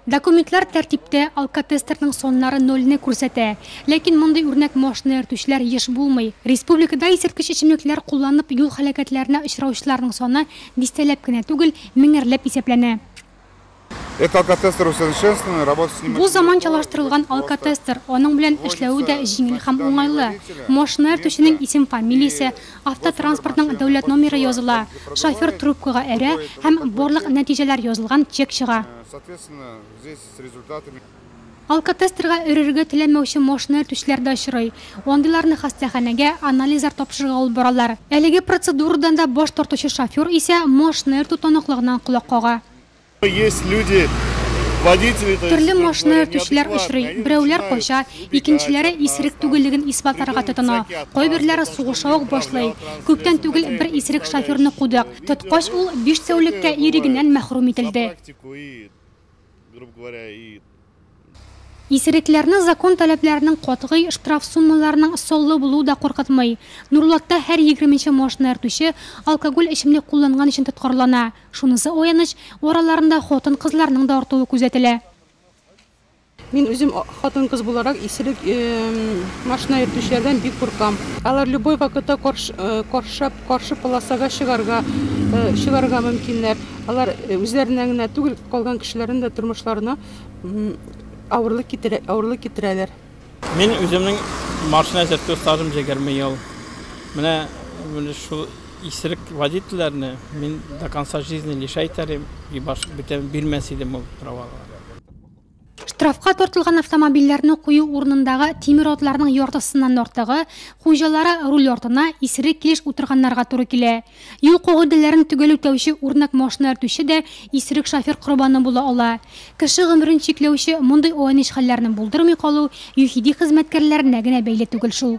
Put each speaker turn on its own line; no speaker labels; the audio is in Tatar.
Документлар тәртиптә, алкотестерның саннары нольне күрсәтә. Ләкин мондый үрнәк машина йөртүчеләр еш булмый. Республикада исерткеч эчемлекләр кулланып юл һәлакәтләренә очраучыларның саны дистәләп кенә түгел, меңәрләп исәпләнә. Бу заманчалаштырылган алкотестер, аның белән эшләве дә җиңел һәм уңайлы. Машина йөртүченең исем-фамилиясе, Автотранспортның дәүләт номеры языла, шофер трубкага әрә һәм барлык нәтиҗәләр язылган чек чыга. Алкотестерга өрергә теләмәүче машина йөртүчеләр дә очрый. Андыйларны хастаханәгә анализлар тапшырырга алып баралар. Әлеге процедурадан да баш тартучы шофер исә машина йөртү таныклыгыннан колак кага. Төрле машина йөртүчеләр очрый, берәүләр кача, икенчеләре исерек түгеллеген исбатларга тотына, кайберләре сугыша ук башлый. Күптән түгел бер исерек шоферны кудык, тоткач, ул биш тәүлеккә ирегеннән мәхрүм ителде. Исерекләрне закон таләпләренең катгый, штраф суммаларының саллы булуы да куркытмый. Нурлатта һәр егерменче машина йөртүче алкоголь эчемлек кулланган өчен тоткарлана. Шунысы аяныч, араларында хатын-кызларның да артуы күзәтелә.
Мин үзем хатын-кыз буларак, исерек машина йөртүчеләрдән бик куркам. Алар любой вакытта коршап Каршы полосага чыгарга чыгарга мөмкиннәр. Алар үзләренә генә түгел, калган кешеләрнең дә тормышларына авырлык китерә, авырлык китерәләр. Мин
үземнең машина йөртү стажым 20 ел. Менә шул исерек водительләрне мин до конца жизни лишай итәр идем, бирмәс идем ул праваларны.
Штрафка тартылган автомобильләрне кую урынындагы тимер атларның яртысыннан артыгы, хуҗалары руль артына исерек килеш утырганнарга туры килә. Юл кагыйдәләрен төгәл үтәүче үрнәк машина йөртүче дә исерек шофер корбаны була ала. Кеше гомерен чикләүче мондый айныч хәлләрне булдырмый калу ЮХИДИ хезмәткәрләренә генә бәйле түгел шул.